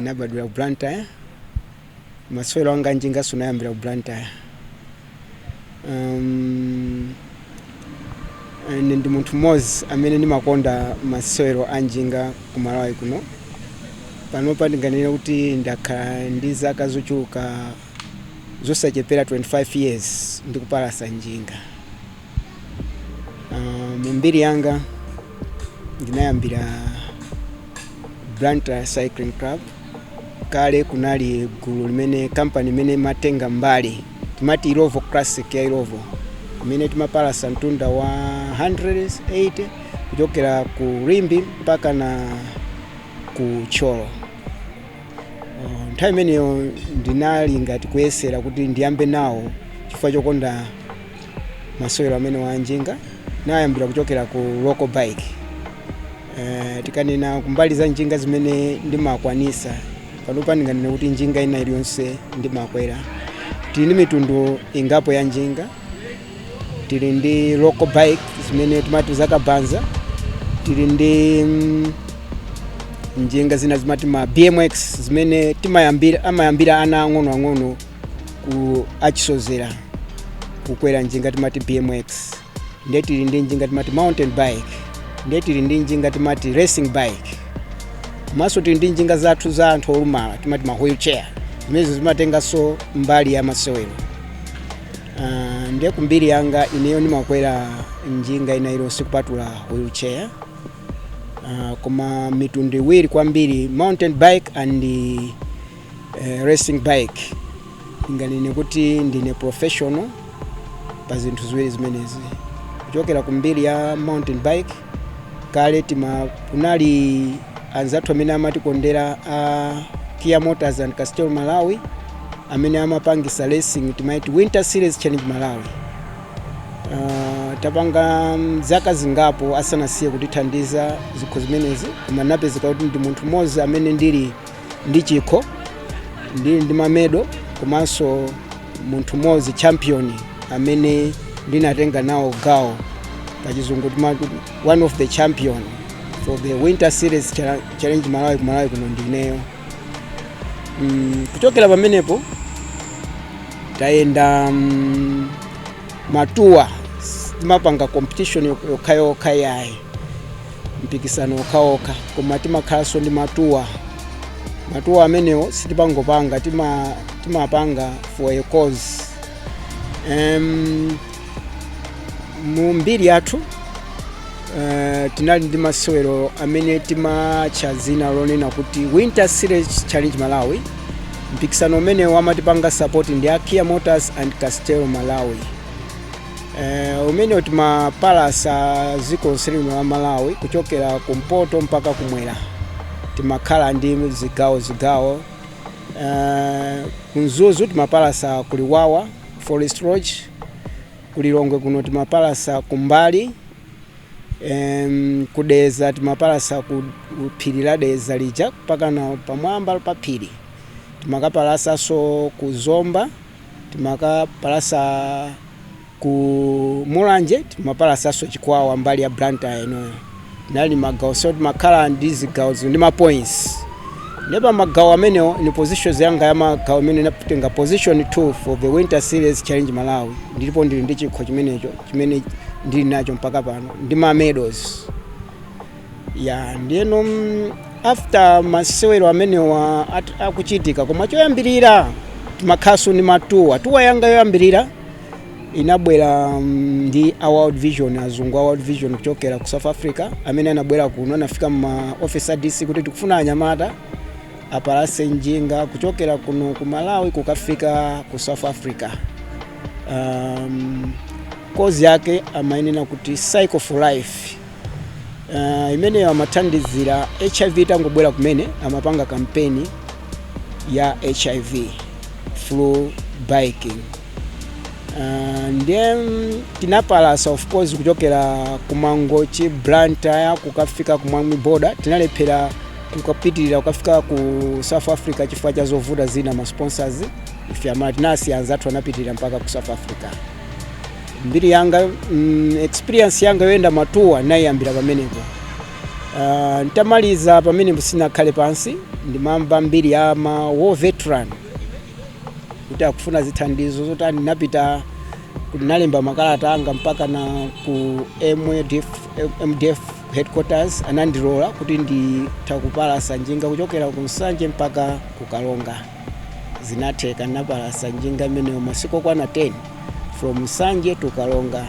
Nabadwira ku Blantyre. Masewero anga a njinga ndinayambira ku Blantyre. Um, ine ndi munthu mmodzi amene ndimakonda masewero a njinga ku Malawi kuno. Panopa ndinganene kuti ndakhala ndi zaka zochuluka zosachepera 25 years ndikupalasa njinga. Uh, mu mbiri yanga ndinayambira Blantyre Cycling Club kale kunali gulu limene kampani imene imatenga mbali timati Illovo Classic ya Illovo imene timapalasa mtunda wa 180 kuchokera ku Limbe mpaka na ku Thyolo. Uh, nthawi imeneyo ndinali ngati kuyesera kuti ndiyambe nawo chifukwa chokonda masewero amenewa a njinga nayambira kuchokera ku local bike eh, tikanena kumbali za njinga zimene ndimakwanisa panopa ndinganene kuti njinga ina iliyonse ndimakwera tili ndi mitundu ingapo ya njinga tili ndi local bike zimene timati za kabaza tili ndi mm, njinga zina zimati ma bmx zimene timayambira amayambira ana ang'onoang'ono kuwachizoloweza kukwera njinga timati bmx nde tili ndi njinga timati mountain bike nde tili ndi njinga timati racing bike komanso tili ndi njinga zathu za anthu olumala timati ma wheelchair zimenezo zimatenganso mbali ya masewero Ah, ndiye kumbiri yanga ineyo ndimakwera njinga ina iliyonse kupatula wheelchair Ah, koma mitundu iwiri kwambiri mountain bike and eh, racing bike ndinganene kuti ndine professional pa zinthu ziwiri zimenezi kuchokera ku mbiri ya mountain bike kale tima kunali anzathu amene amatikondera a kia motors and castel malawi amene amapangisa racing timaiti winter series challenge malawi uh, tapanga mm, zaka zingapo asanasiye kutithandiza zikho zimenezi koma napezeka kuti ndi munthu mmodzi amene ndili ndi chikho ndili ndi mamedo komanso munthu mmodzi champion amene ndinatenga nawo gawo pachizungu timati one of the champion for the winter series Chal- challenge malawi ku malawi kuno ndineyo mm, kuchokera pamenepo tayenda mm, matuwa sitimapanga competition yok- yokhayokha ayi mpikisano okhaokha koma timakhalanso ndi matuwa matuwa amenewo sitipangopanga tima, timapanga for a cause um, mu mbiri yathu uh, tinali ndi masewero amene timatcha dzina lonena kuti winter series challenge malawi mpikisano umenewo amatipanga support ndi a kia motors and castel malawi Eh, umenewo timapalasa dziko lonse lino la malawi kuchokera kumpoto mpaka kumwera timakhala ndi zigawo zigawo Eh, kumzuzu timapalasa ku luwawa forest lodge kulilongwe kuno timapalasa kumbali Em, kudedza timapalasa ku ku phiri la dedza lija mpakana pamwamba pa phiri timakapalasanso ku zomba Timakapalasa ku Mulanje, timapalasanso Chikwawa, mbali ya Blantyre inoyo. Anali magawo so timakhala ndi zigawo zili ndi ma points. Ndiye pa magawo amenewo ni positions yanga ya magawo imene ndinatenga position 2 for the Winter Series Challenge Malawi. Ndipo ndili ndi chikho chimenecho chimene ndili nacho mpaka pano ndi ma medals. ya ndiyeno mm, after masewero amenewa at- akuchitika koma choyambirira timakhalanso ndi matuwa tuwa yanga yoyambirira inabwera mm, ndi a world vision azungu a world vision kuchokera ku south africa amene anabwera kuno anafika mma office a dc kuti tikufuna anyamata apalase njinga kuchokera kuno ku malawi kukafika ku south africa um, kozi yake amayinena kuti cycle for life uh, imeneyo amathandizira hiv itangobwera kumene amapanga kampeni ya hiv through biking uh, ndiye mm, tinapalasa of course kuchokera kumangochi blantyre kukafika kumwami boda tinalephera kukapitirira kukafika ku south africa chifukwa cha zovuta zina ma sponsors ife ma tinasiya anzathu anapitirira mpaka ku south africa mbiri yanga mm, experience yanga yoyenda matuwa ndinayiyambira pamenepo uh, ntamaliza pamenepo sinakhale pansi ndimamva mbiri ya ma war veteran kuti akufuna zithandizo zotani ndinapita ndinalemba makalata anga mpakana ku MDF, mdf headquarters anandilola kuti nditha kupalasa njinga kuchokera ku nsanje mpaka ku karonga zinatheka ndinapalasa njinga imeneyo masiku okwana 10 from nsanje to karonga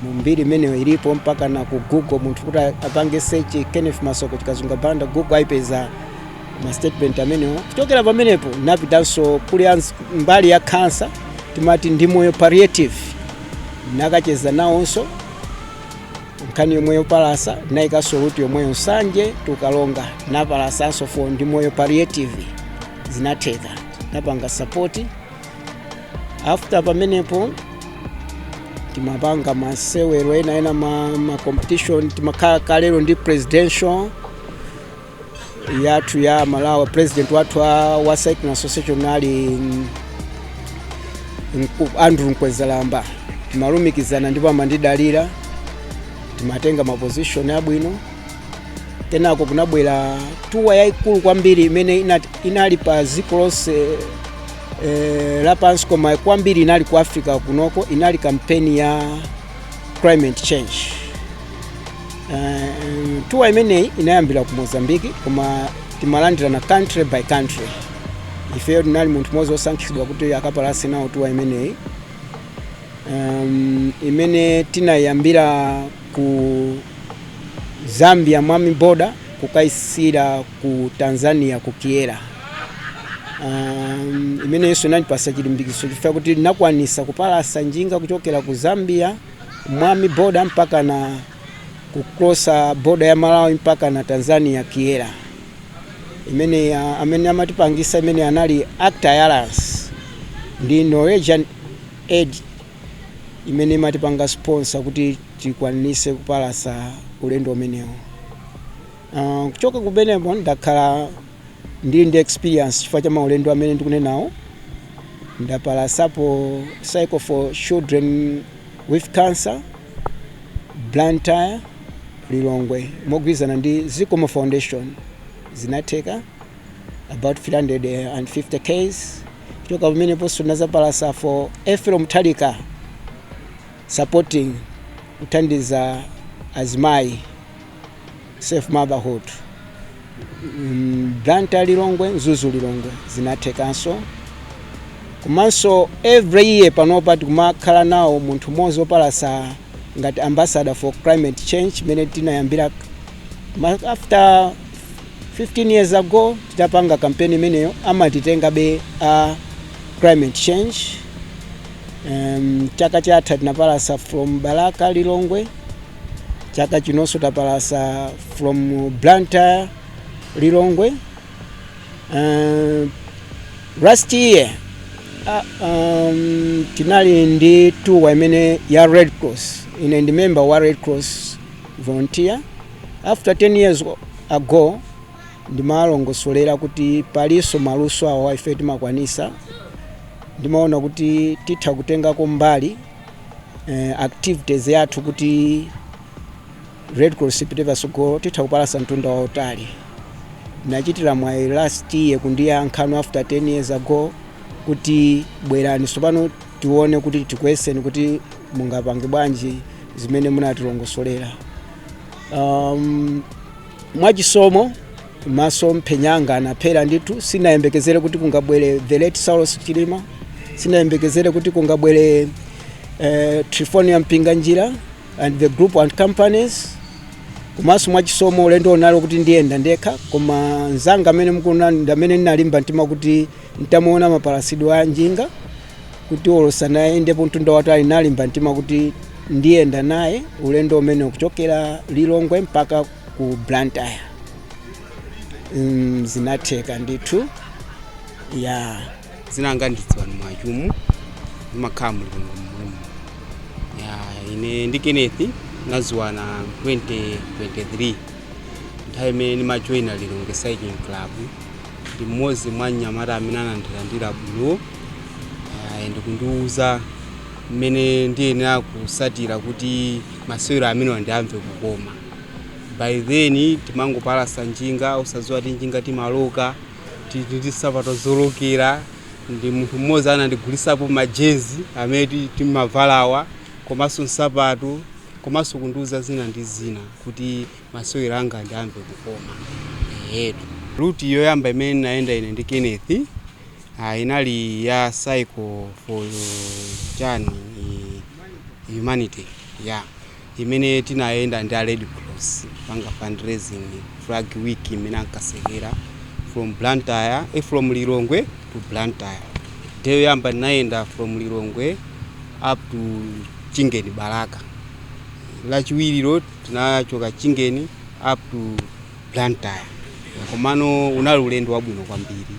mu mbiri imeneyo ilipo mpakana ku google munthu kuti a- apange search kenneth masoko chikazunga banda google ayipeza ma statement amenewo kuchokera pamenepo napitanso kuli anz- mbali ya khansa timati ndi moyo palliative nakacheza nawonso nkhani yomweyo palasa nayikanso ruti yomweyo nsanje tu Karonga napalasanso fo Ndi Moyo palliative zinatheka napanga sapoti after pamenepo timapanga masewero ena ena ma, ma competition timakhala kalero ndi presidential yathu ya malawi president wathu wa, wa cycling association ali mm, Mku- andrew mkwezalamba timalumikizana ndipo amandidalira timatenga maposition abwino kenako kunabwera tuwa yayikulu kwambiri imene inali pa dziko lonse eh, lapansi koma kwambiri inali ku africa kunoko inali kampeni ya climate change Uh, tuwa imeneyi inayambira ku mozambiki koma timalandirana country by country ifeyo ndinali munthu mmodzi wosankhidwa kuti akapalase nawo tuwa imeneyi um, imene tinayambira ku zambia mwami boda kukayisira ku tanzania ku kyela um, imeneyinso inandipasa chilimbikitso chifukwa kuti ndinakwanisa kupalasa njinga kuchokera ku zambia mwami boda mpaka na kukrosa boda ya malawi mpaka na tanzania kyela imene ya- amene amatipangisa imene anali act alliance ndi norwegian aid imene imatipanga sponsor kuti tikwanise kupalasa ulendo umenewo uh, kuchoka kumeneko ndakhala Ndili ndi experience chifukwa cha maulendo amene ndikunenawo. Ndapalasapo cycle for children with cancer, Blantyre, Lilongwe mogwirizana ndi Zikomo Foundation zinatheka about 350 Ks. Kuchoka pameneponso ndinazapalasa for Ethel Mutharika supporting kuthandiza azimayi Safe Motherhood mm, Blantyre Lilongwe Mzuzu Lilongwe zinathekanso komanso every year panopa tikumakhala nawo munthu mmodzi wopalasa ngati ambassador for climate change imene tinayambira ma- after 15 years ago titapanga kampeni imeneyo amatitengabe a climate change um, chaka chatha tinapalasa from balaka lilongwe chaka chinonso tapalasa from blantyre lilongwe uh, last year uh, um, tinali ndi tuwa imene ya red cross ine ndi member wa red cross volunteer after 10 years ago ndimalongosolera kuti palinso maluso awo ife timakwanisa ndimaona kuti titha kutengako mbali eh, activities yathu kuti red cross ipite patsogolo titha kupalasa mtunda wautali ndinachitira mwayi last year kundiyankhano after 10 years ago kuti bwerani tsopano tione kuti tikuyeseni kuti mungapange bwanji zimene munatilongosolera um, mwachisomo maso mphenya anga anapherezera ndithu sinayembekezere kuti kungabwere the late saulos chilima sinayembekezere kuti kungabwere eh, trifonia mpinganjira and the group and companies komanso mwachisomo ulendo unali kuti ndiyenda ndekha koma mzanga amene mukuona ndamene ndinalimba mtima kuti ntamuona mapalasidwe a njinga kuti olowa naye ndipo mtunda watali nalimba mtima kuti ndiyenda naye ulendo umene kuchokera lilongwe mpaka ku blantyre mm, zinatheka ndithu ya dzina langa ndi Ziwani mwachumu ndimakhala mu Lilongwe ya ine ndi kenneth tinadziwana 2023 nthawi imene ndimajoyina lilongwe cycling club ndi mmodzi mwa anyamata amene anandilandira bwino Ah, ndi kundiwuza mmene ndiyenera kutsatira kuti masewero amenewa ndiwamve kukoma by then timangopalasa njinga osadziwa kuti njinga timaloka tili ndi nsapato zolokera ndi munthu mmodzi anandigulitsapo majezi amene ti- timavalawa komanso nsapato komanso kundiuza zina ndi zina kuti masewero anga ndiwamve kukoma eyetu route yoyamba imene ndinayenda ine ndi kenneth ah, inali ya cycle for chani humanity ya yeah. imene tinayenda ndi a red cross kupanga fundraising flag week imene ankatsekera from blantyre e from lilongwe to blantyre day yoyamba tinayenda from lilongwe up to chingeni balaka lachiwirilo tinachoka chingeni up to blantyre komano unali ulendo wabwino kwambiri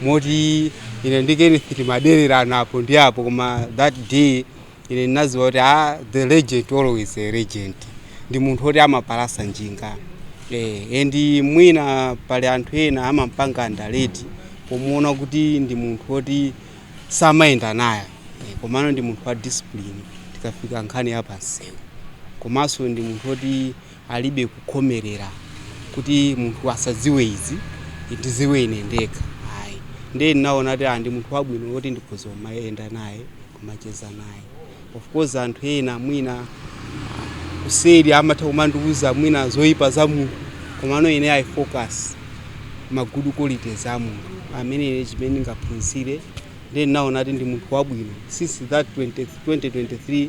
moti ine ndi kenneth timadelerana apo ndi apo koma that day Ine ndinadziwa kuti aa the legend always a legend ndi munthu oti amapalasa njinga eh and mwina pali anthu ena amampanga underrate pomuona kuti ndi munthu oti samayenda naye eh, komano ndi munthu wa discipline tikafika nkhani ya pamsewu komanso ndi munthu oti alibe kukhomelera kuti munthu asadziwe izi ndidziwe ine ndekha ayi nde ndinaona kuti ndi munthu wabwino woti ndikhoza kumayenda naye kumacheza naye of course anthu ena mwina kuseri amatha kumandiuza mwina zoyipa za munthu komano ine i focus ma good qualities a munthu amene ine chimene ndingaphunzire nde ndinaona kuti ndi munthu wabwino since that 2023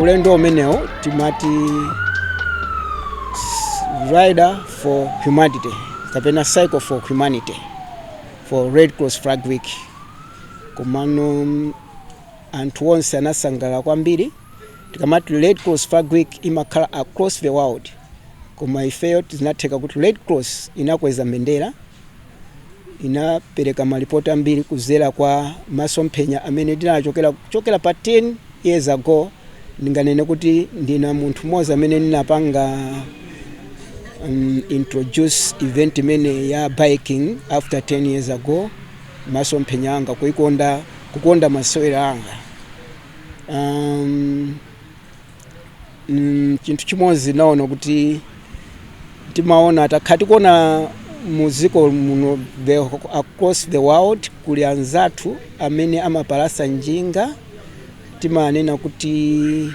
ulendo umenewo timati s- rider for humanity kapena cycle for humanity for red cross flag week komano mm, anthu onse anasangala kwambiri tikamati red cross flag week imakhala across the world koma ifeyo tinatheka kuti red cross inakweza mbendera inapereka malipoti ambiri kuzera kwa masomphenya amene ndinachokera kuchokera pa 10 years ago ndinganene kuti ndina munthu mmodzi amene ndinapanga um, introduce event imene ya biking after 10 years ago masomphenya anga kukonda masewero anga um, mm, chinthu chimodzi naona kuti timaona takhala tikuona mu dziko muno the, across the world kuli anzathu amene amapalasa njinga timanena kuti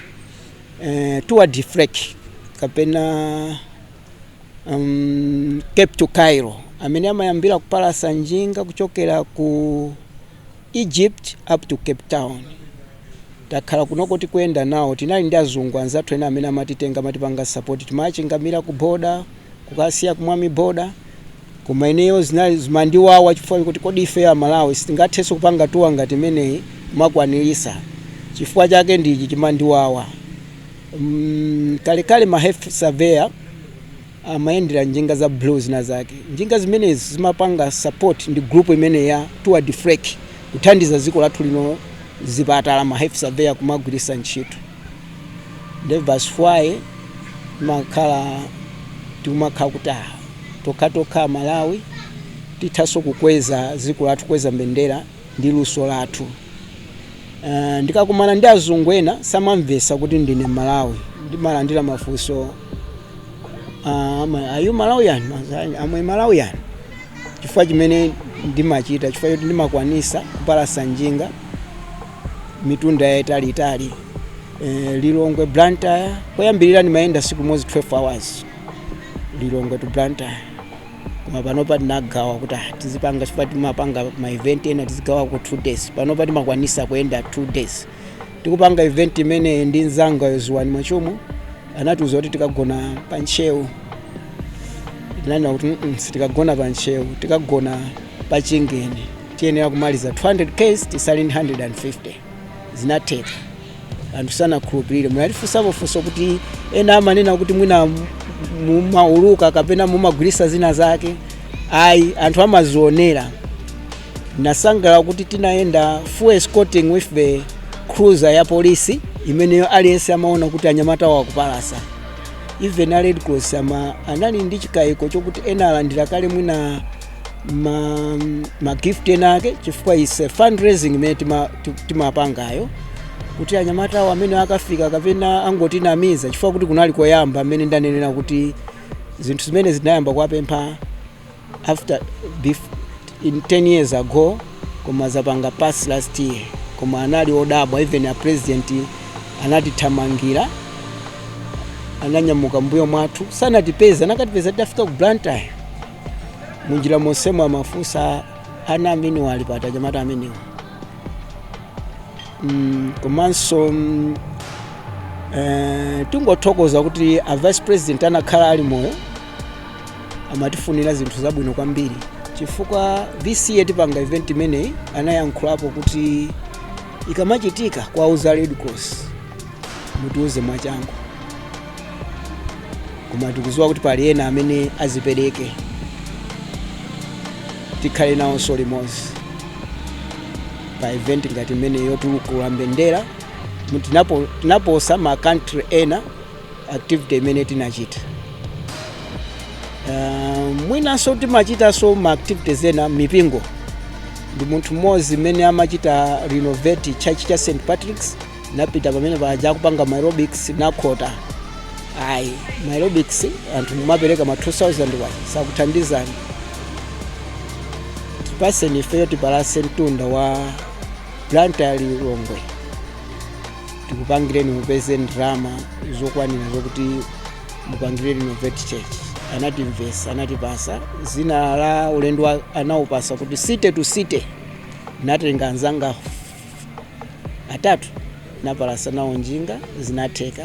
eh, tour d'afrique kapena um, cape to cairo amene amayambira kupalasa njinga kuchokera ku egypt up to cape town Takhala kunoko tikuyenda nawo. Tinali ndi azungu anzathu ena amene amatitenga, amatipanga support. Timawachingamira ku border, kukasiya ku Mwami border. Koma ineyo zinali, zimandiwawa chifukwa choti kodi ifeyo a Malawi singathenso kupanga tour ngati imeneyi kumakwanilisa? Chifukwa chake ndi ichi chimandiwawa. Umm, kalekale ma health surveyor. amayendera njinga za blue zinazake. Njinga zimenezi zimapanga support ndi group imeneyi ya Tour d'Afrique kuthandiza dziko lathu lino zipatala ma health surveyor kumagwiritsa ntchito. Nde that's why timakhala tikumakhala kuti ah, tokha tokha a Malawi tithanso kukweza dziko lathu kukweza mbendera ndi luso lathu. Ah, ndikakumana ndi azungu ena samamvetsa kuti ndine Malawi ndimalandira mafunso Ah, ama- are you Malawian? I'm a Malawian. Chifukwa chimene ndimachita, chifukwa choti ndimakwanisa kupalasa njinga mitunda yaitali itali. Eh, Lilongwe Blantyre, koyambirira ndimayenda siku limozi 12 hours. Lilongwe to Blantyre. Koma panopa tinagawa kuti ah, tizipanga chifukwa timapanga ma event ena tizigawa ku 2 days. Panopa timakwanisa kuyenda 2 days. tikupanga event imeneyi ndi mzanga Yohane Mwachumu anatiuza kuti tikagona pa ntcheu tinanena kuti "Mm-mm, sitikagona pa ntcheu tikagona pa chingeni tiyenera kumaliza 200 Ks titsale ndi 150 zinatheka anthu sanakhulupirire munatifunsapo funso kuti ena amanena kuti mwina mumauluka kapena mumagwirisa zina zake ayi anthu amadzionera Ndinasangalala kuti tinayenda full escorting with the cruiser ya polisi imeneyo aliyense amaona kuti anyamata awo akupalasa even a red cross amaanali ndi chikayiko chokuti ena alandira kale mwina ma, ma gift ena ake chifukwa is a fundraising imene tima- ti- timapangayo kuti anyamata awo amene akafika kapena angotinamiza chifukwa kuti kunali koyamba amene ndanenera kuti zinthu zimene zinayamba kuwapempha after in 10 years ago koma zapanga pass last year koma anali odabwa even a president anatithamangira ananyamuka mbuyo mwathu sanatipeza nakatipeza tidafika ku blantyre munjira monsemo amafunsa ana amenewa ali pati anyamata amenewa mm, komanso mm, eh, tingothokoza kuti a vice president anakhala ali moyo amatifunira zinthu zabwino kwambiri chifukwa this year tipanga event imeneyi anayankhulapo kuti ikamachitika kuwauza red cross mutiuze mwachangu koma tikuziwa kuti pali ena amene azipereke tikhale nawonso limodzi pa event ngati imene yotukula mbendera tinaposa ma country ena activity imene tinachita uh, mwinanso timachitanso ma activities ena m'mipingo ndi munthu mmodzi amene amachita renovate church cha st patricks napita pamene paja akupanga maerobics nakhota ayi maerobics anthu mumapereka ma 2000 wa sakuthandizani tipatseni ifeyo tipalase mtunda wa blantyre lilongwe tikupangireni mupeze ndalama zokwanira zokuti mupangire renovate church anatimvetsa anatipatsa dzina la ulendo wa- anaupatsa kuti city to city natenga anzanga atatu napalasa nawo njinga zinatheka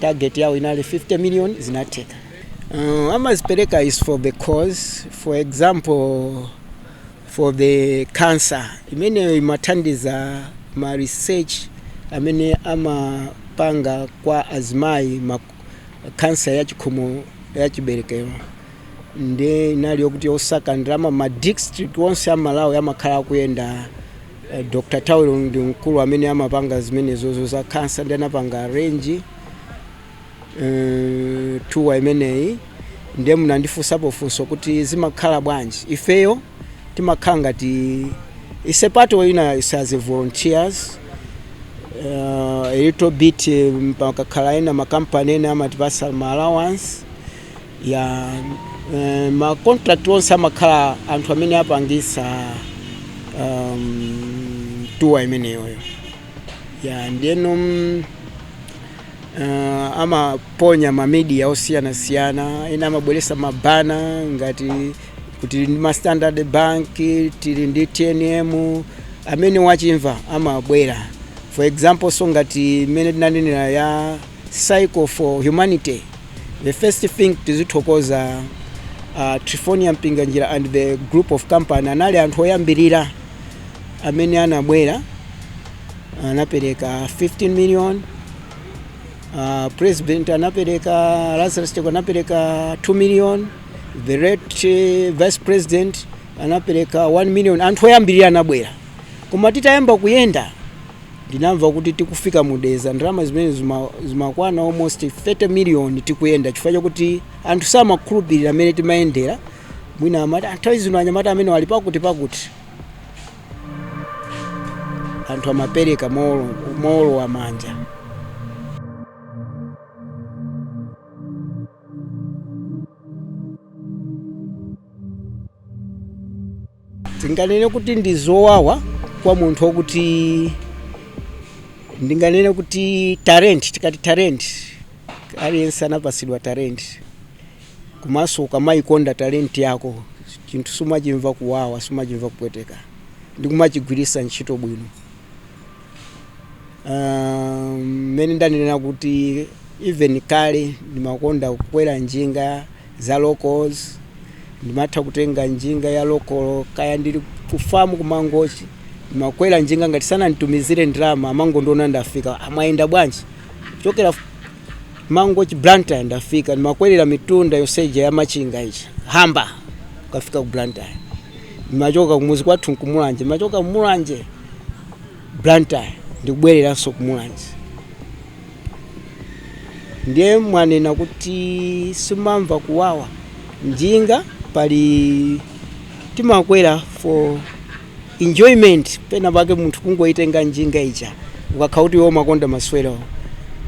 target yawo inali 50 million zinatheka uh, amadzipereka is for the cause for example for the cancer imeneyo imathandiza ma research amene amapanga kwa azimayi ma cancer ya chikhomo ya chiberekero ndi inali yokuti osaka ndalama ma district onse a malawi amakhala akuyenda eh, dr tawero ndi mkulu amene amapanga zimenezozo za cancer ndi anapanga arrange mm, tour imeneyi ndiye munandifunsapo funso kuti zimakhala bwanji ifeyo timakhala ngati ise part of ina ise as volunteers uh, a little bit um, pakakhala ena makampani ena amatipasa ma allowance ya eh, ma contract onse amakhala anthu amene apangisa um, tour imeneyoyo ya ndiyeno mm, Uh, amaponya ma media osiyanasiyana ena amabweresa ma banner ngati tili ndi ma standard bank tili ndi tnm amene wachimva amabwera for example so ngati imene tinanenera ya cycle for humanity the first thing tizithokoza uh, triephornia mpinganjira and the group of company anali anthu oyambirira amene anabwera anapereka 15 million uh, president anapereka Lazarus Chakwera anapereka 2 million the late eh, vice president anapereka 1 million anthu oyambirira anabwera koma titayamba kuyenda ndinamva kuti tikufika mu Dedza ndalama zimene zima- zimakwana almost 30 million tikuyenda chifukwa chakuti anthu samakhulupirira amene timayendera mwina amati "Ah, nthawi zino anyamata amene ali pakuti pakuti anthu amapereka mowolo- mowolowa manja Tinganene kuti ndi zowawa kwa munthu okuti ndinganene kuti talent tikati talent aliyense anapasidwa talent komanso ukamayikonda talent yako chinthu sumachimva kuwawa sumachimva kupweteka ndikumachigwiritsa ntchito bwino Ah, mmene ndanena kuti even kale ndimakonda kukwera njinga za locals ndimatha kutenga njinga ya local kaya ndili ku farm kumangochi ndimakwera njinga ngati sananditumizire ndalama amangondiona ndafika amaenda bwanji kuchokera mangochi blantyre ndafika ndimakwerera mitunda yonse ija ya machinga pachihamba kukafika ku blantyre ndimachoka kumuzi kwathu kumulanje ndimachoka kumulanje blantyre ndikubwereranso kumulanje Ndiye mwanena kuti simumamva kuwawa njinga pali timakwera for enjoyment pena pake munthu kungoitenga njinga ija ukakhala kuti iwe umakonda maswerawo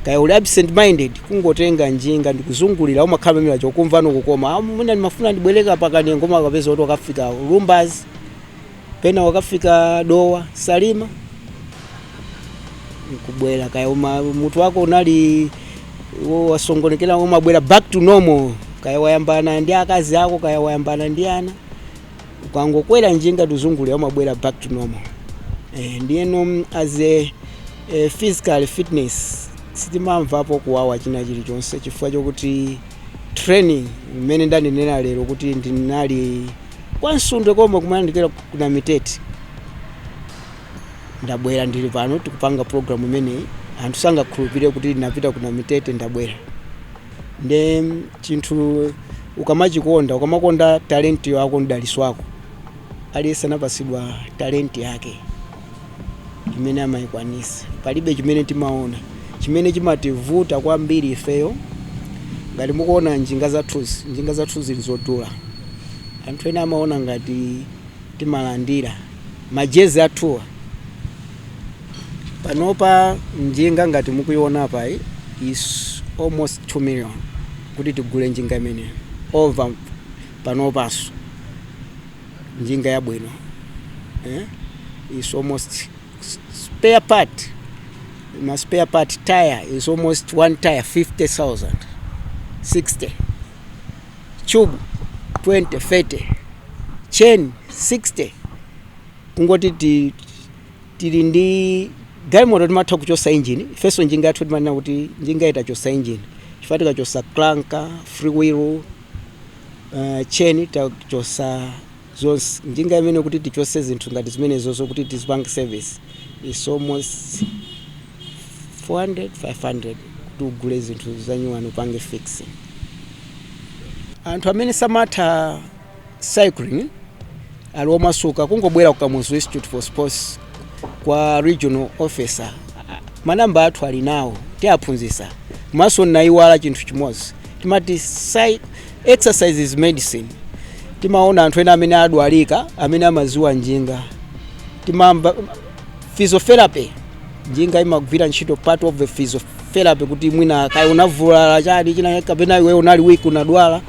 kaya uli absent minded kungotenga njinga ndikuzungulira umakhala pamene paja ukumvano kukoma "Ah, mwina ndimafuna ndibwereko pakanengo umakapeza kuti wakafika Lumbadzi pena wakafika Dowa Salima nkubwera kaya uma, mutu wako unali wo- wasongonekera umabwera back to normal kaya wayambana ndi akazi ako kaya wayambana ndi ana ukangokwera njinga kuzungulira umabwera back to normal eh, ndiyeno mm, as a eh, physical fitness sitimamvapo kuwawa china chilichonse chifukwa chokuti training imene ndanenera lero kuti ndinali kwa Msundwe komwe kumayandikira ku ku Namitete ndabwera ndili pano tikupanga program imeneyi anthu sangakhulupirire kuti ndinapita ku Namitete ndabwera nde chinthu ukamachikonda ukamakonda talenti yako mdaliso wako aliyense anapasidwa talenti yake imene amaikwanisa. Palibe chimene timaona. Chimene chimativuta kwambiri ifeyo, ngati mukuona njinga zathuzi ndi zodula. Anthu ena amaona ngati timalandira. Majezi athuwa, panopa njinga ngati mukuiona apayi is almost 2 million kuti tigule njinga imeneyo, over panopanso. njinga yabwino eh? is almost spare part ma spare part tire is almost one tire 50000 60 tube 20 30 chain 60 kungoti ti- tili ndi galimoto kuti timatha kuchosa injini ifenso njinga yathu timanena kuti njingayi tachosa injini chifukwa tikachosa crank free wheel uh, tcheni tachosa zonse njinga imene kuti tichose zinthu ngati zimenezozo kuti tizipange service is almost 400 500 kuti ugule zinthu zanyuwani upange fixing anthu amene samatha cycling ali omasuka kungobwera ku Kamuzu Institute for Sports kwa regional officer A- manamba athu ali nawo tiaphunzisa komanso nayiwala chinthu chimodzi timati "Sai- exercise is medicine timaona anthu ena amene adwadwalika amene amaziwa njinga timamva physiotherapy njinga imagwira ntchito part of the physiotherapy kuti mwina kaya unavulala chani china kapena iwe unali weak unadwala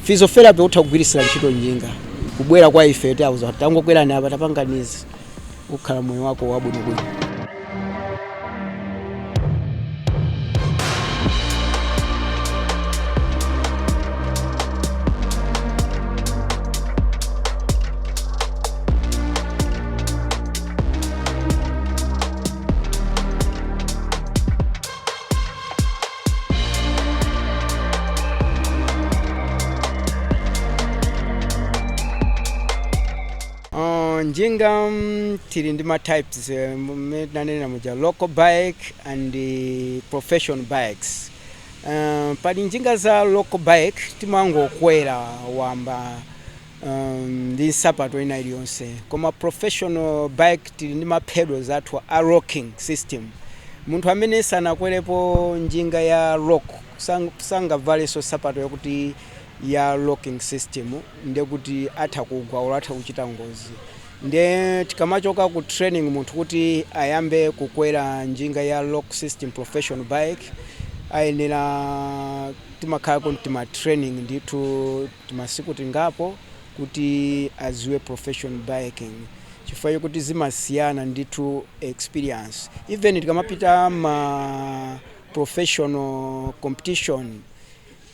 physiotherapy utha kugwiritsira ntchito njinga kubwera kwa ife tiauza tangokwerani apa tapanganizi ukhala moyo wako wabwinobwino Uh, njinga mm, tili ndi ma types eh, mmene tinanena muja local bike and eh, professional bikes uh, pali njinga za local bike timangokwera wamba ndi nsapato ina iliyonse koma professional bike tili ndi ma pedals athu a locking system munthu amene sanakwerepo njinga ya lock sang- sangavalenso nsapato yakuti ya locking system ndekuti atha kugwa olo atha kuchita ngozi nde tikamachoka ku training munthu kuti ayambe kukwera njinga ya lock system professional bike ayenera timakhala kuti tima training ndithu timasiku tingapo kuti aziwe professional biking chifukwa chokuti zimasiyana ndithu experience even tikamapita ma professional competition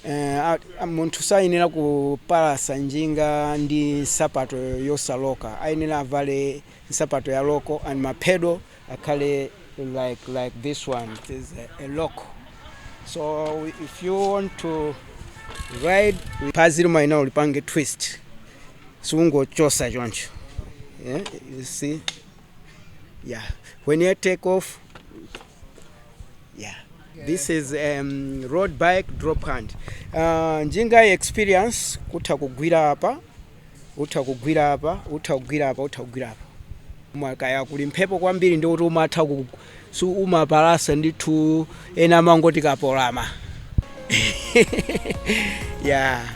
eh, a- a- munthu sayenera kupalasa njinga ndi nsapato yosaloka ayenera avale nsapato ya local and ma pedo akhale like like this one it is a, a local so if you want to ride phazi lomwe ina ulipange twist siungochosa choncho yeah, you see yeah when you take off yeah this is um, road bike drop hand uh, njinga experience kutha kugwira apa utha kugwira apa utha kugwira apa utha kugwira apa mwakaya kuli mphepo kwambiri ndi kuti umatha ku si umapalasa ndithu ena amangoti kapolama yeah